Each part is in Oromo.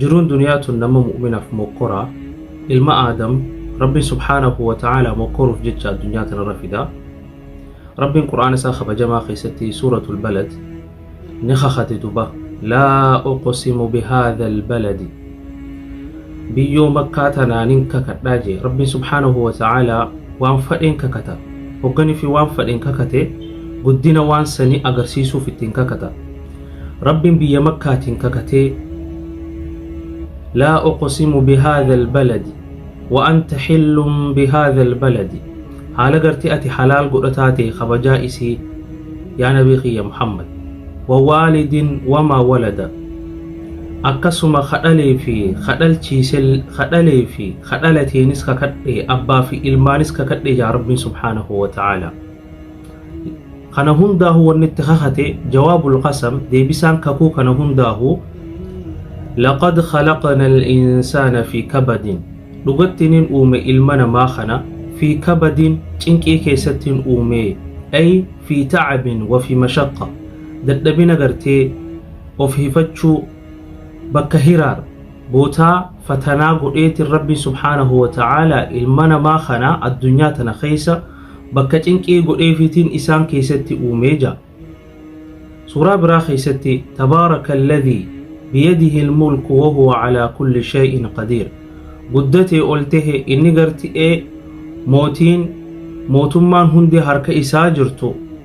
jiruun duniyaa tun nama mu'minaaf mokkoraa ilma aadam rabbiin subhaanahu wa ta'aalaa mokkoruuf jecha addunyaa tanarra fida rabbiin qur'aana isaa kabajamaa keessatti suuratul balad ni kakate duba laa uqsimu bihaadha albaladi biyyoo makkaa tanaanin kakadhaa jee rabbiin subhaanahu wa ta'aalaa waan fadheen kakata hogganii fi waan fadheen kakate guddina waan sanii agarsiisuuf ittiin kakata Rabbiin biyya Makkaatiin kakatee, Laa uqsimu bihaadha albaladi wa anta xillun bihaadha albaladi, haala gartee ati halaal godhataa ta'e kabajaa isii, yaa Nabii kiyya Muhammad, wa waalidin wamaa walada, akkasuma ka dhalee fi ka dhalchiise, ka dhalee fi ka dhalateenis kakadhe, abbaa fi ilmaanis kakadhe jedha Rabbiin subhaanahu wa ta'aalaa. kana hundaahu wanni itti kakate jawaabul qasam deebisaan kakuu kana hundaahu laqad khalaqna al-insaana fi kabadin dhugatti nin uume ilma namaa kana fi kabadin cinqii keessattiin uume ay fi ta'abin wa fi mashaqqa dadhabina gartee of hifachuu bakka hiraar bootaa fatanaa godheetiin rabbiin subhaanahu wa ta'aalaa ilma namaa kana addunyaa tana keessa bakka cinqii godheefiitiin isaan keessatti uumee ja'a. Suuraa biraa keessatti tabaaraka alladhii biyadihi almulku wahuwa calaa kulli shay'in qadiir guddatee ol tahe inni garti'ee mootiin mootummaan hundi harka isaa jirtu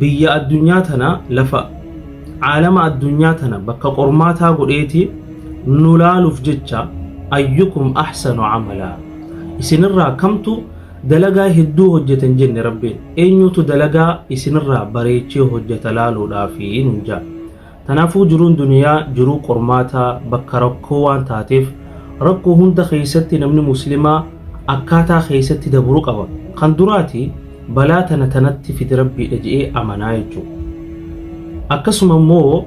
biyya addunyaa tana lafa caalama addunyaa tana bakka qormaataa godheeti nu laaluuf jecha ayyukum ahsanu amalaa isinirraa kamtu dalagaa hedduu hojjetan jenne rabbiin eenyutu dalagaa isinirraa bareechee hojjeta laaluudhaafi nun jaa Kanaafuu jiruun duniyaa jiruu qormaataa, bakka rakkoo waan taateef rakkoo hunda keessatti namni muslimaa akkaataa keessatti dabru qaba. Kan duraati balaa tana tanatti fide Rabbiidha je'ee amanaa jechuudha. Akkasuma immoo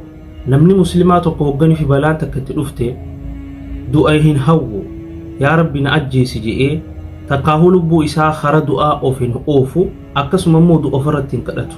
namni muslimaa tokko hoggani fi balaan takka itti dhufte du'a hin hawwu. Yaa Rabbi na ajjeesi je'ee takkaahuu lubbuu isaa kara du'aa of hin oofu akkasuma immoo du'a ofirratti hin kadhatu.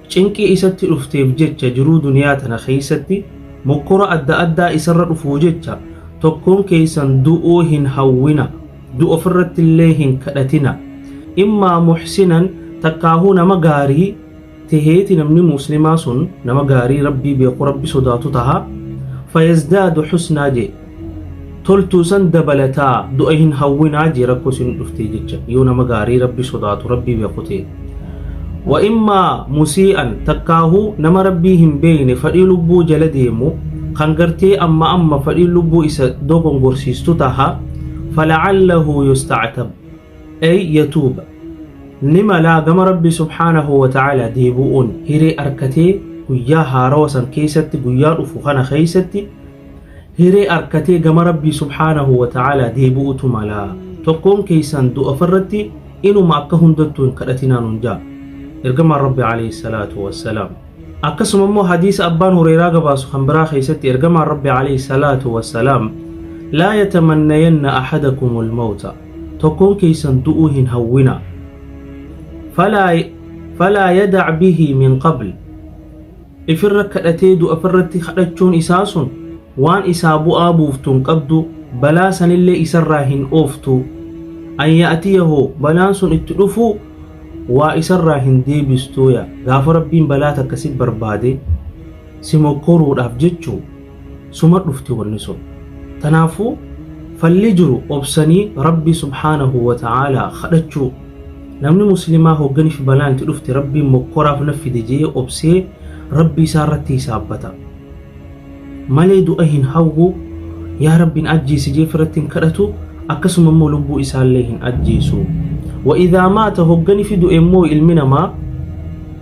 Cinqii isatti dhufteef jecha jiruu duniyaa tana keessatti mokkora adda addaa isarra dhufuu jecha tokkoon keessan du'uu hin hawwina du'a ofirratti illee hin kadhatina immaa muhsinan takkaahuu nama gaarii teheeti namni muslimaa sun nama gaarii rabbii beeku rabbi sodaatu taha fayazdaadu husnaa jee toltuu san dabalataa du'a hin hawwinaa jee rakkoo isin dhuftee jecha yoo nama gaarii rabbi sodaatu rabbii beeku ta'e wa immaa musii'an takkaahu nama rabbii hin beeyne fadhii lubbuu jala deemu kan gartee amma amma fadhiin lubbuu isa dogongorsiistu taha falacallahu yustactab ay yatuuba ni malaa gama rabbii subhaanahu wa ta'ala deebu'uun hiree arkatee guyyaa haarawa san keeysatti guyyaa dhufu kana keeysatti Hiree arkatee gama Rabbii subhaanahu wa ta'aalaa deebi'utu mala. Tokkoon keessan du'a farratti inuma akka hundattuu hin kadhatinaa nun ja'a. Ergamaan Rabbi alayhi salaatu wa salaam. Akkasuma immoo hadiisa abbaan Hureyraa gabaasu kan biraa keessatti ergamaan Rabbi alayhi salaatu wa salaam laa yatamannayanna ahadakumul mawta tokkoon keessan du'uu hin hawwina. Falaa falaa yadac bihi min qabl ifirra kadhatee du'a ifirratti kadhachuun isaa sun waan isaa bu'aa buuftu hin qabdu balaa sanillee isarraa hin ooftu an ya'tiyahu balaan sun itti dhufuu waa isarraa hin deebistuuya gaafa rabbiin balaa takka si barbaade si mokkoruudhaaf jechuu suma dhufti wanni sun tanaafuu falli jiru obsanii rabbii subhaanahu wa ta'aalaa kadhachuu namni muslimaa hogganiif balaan itti dhufte rabbiin mokkoraaf na fide je'ee obsee rabbii isaa irratti hisaabbata malee du'a hin hawwu yaa rabbiin ajjeesi jeef irratti hin kadhatu akkasuma immoo lubbuu isaallee hin ajjeesu wa idhaa maata hogganifi du'e immoo ilmi namaa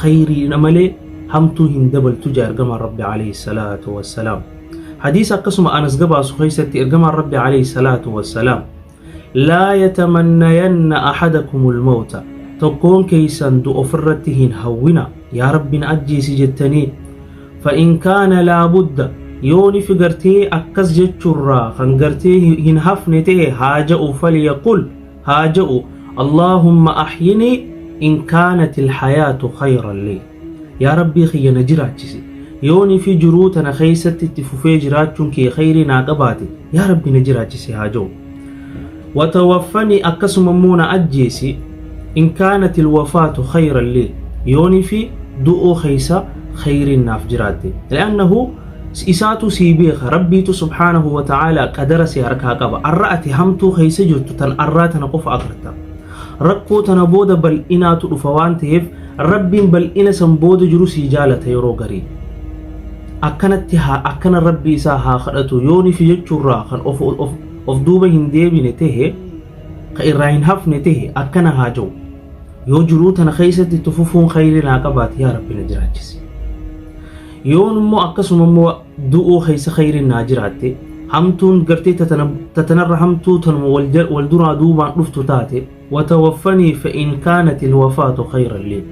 khayriidha malee hamtuu hin dabaltu jedha ergamaan Rabbi alayhi salaatu wassalaam. Hadiisa akkasuma Anas gabaasu keessatti ergamaan Rabbi alayhi salaatu wassalaam laa yatamannayanna ahadakumul mawta tokkoon keessan du'a ofirratti hin hawwina yaa Rabbi na ajjeesi jettanii fa'in kaana laa budda yoo ni figartee akkas jechuurraa kan gartee hin hafne ta'e haa ja'u falyaqul haa ja'u allaahumma ahyini in kaanat ilhayaatu khayran lii yaa rabbii kiyya na jiraachisi yooni fi jiruu tana keessatti itti fufee jiraachuun kee khayrii naa qabaate yaa rabbi na jiraachisi haa ja'u watawaffani akkasuma immoo na ajjeesi in kaanat ilwafaatu khayran lii yooni fi du'uu keessa khayriin naaf jiraatte li'annahu Isaatu sii beeka rabbiitu subhaanahu wa ta'aalaa qadara si harkaa qaba arra ati hamtuu keessa jirtu tan arraa tana qofa agarta rakkoo tana booda bal'inaatu dhufa waan ta'eef rabbiin bal'ina san booda jiru sii jaalata yeroo garii akkanatti haa akkana rabbii isaa haa kadhatu yoo nifi jechuurraa kan of, of, of duuba hin deebine ta'e ka irraa hin hafne ta'e akkana haa ja'u yoo jiruu tana keessatti tufufuun khayrii naa qabaate yaa rabbi na jiraachisi Yoon immoo akkasuma immoo du'uu keessa khayriin naa jiraatte hamtuun gartee tatanarra hamtuu tanuma wal duraa duubaan dhuftu taate watawaffanii fa'in kaanati ilwafaatu khayran lii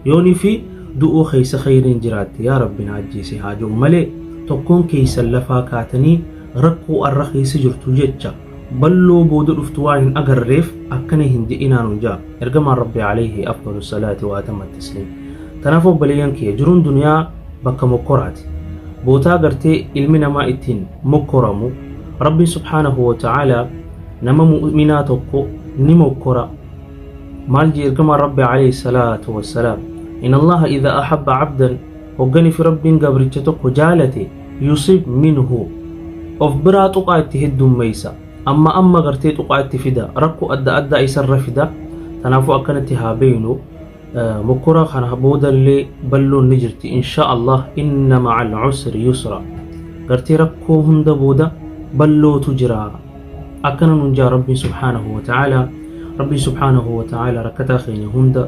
yoonii fi du'uu keessa khayriin jiraatte yaa rabbi naa ajjeese haa jiru malee tokkoon keessan lafaa kaatanii rakkoo arra keessa jirtu jecha Balloo booda dhuftu waan hin agarreef akkana hin je'inaa nun ja'a. Ergamaan Rabbi alayhi afdalu salaati wa atamma tasliim. Tanaaf obboleeyyan kiyya jiruun duniyaa bakka mokkoraati. Bootaa gartee ilmi namaa ittiin mokkoramu Rabbiin subhaanahu wa ta'aala nama mu'minaa tokko ni mokkora. Maal jee ergamaan Rabbi alayhi salaatu wa salaam. In Allaha idha ahabba abdan hoggani fi Rabbiin gabricha tokko jaalate yusib minhu of biraa tuqaa itti heddummeeysa amma amma gartee tuqaa itti fida rakko adda addaa isarra fida tanaafuu akkanatti haa beeynu mokkora kana boodallee balloon ni jirti insha allah inna maca alcusri yusra gartee rakkoo hunda booda ballootu jira akkana nun jaa rabbiin subhaanahu wa ta'aala rabbiin subhaanahu wa ta'aala rakkataa keenya hunda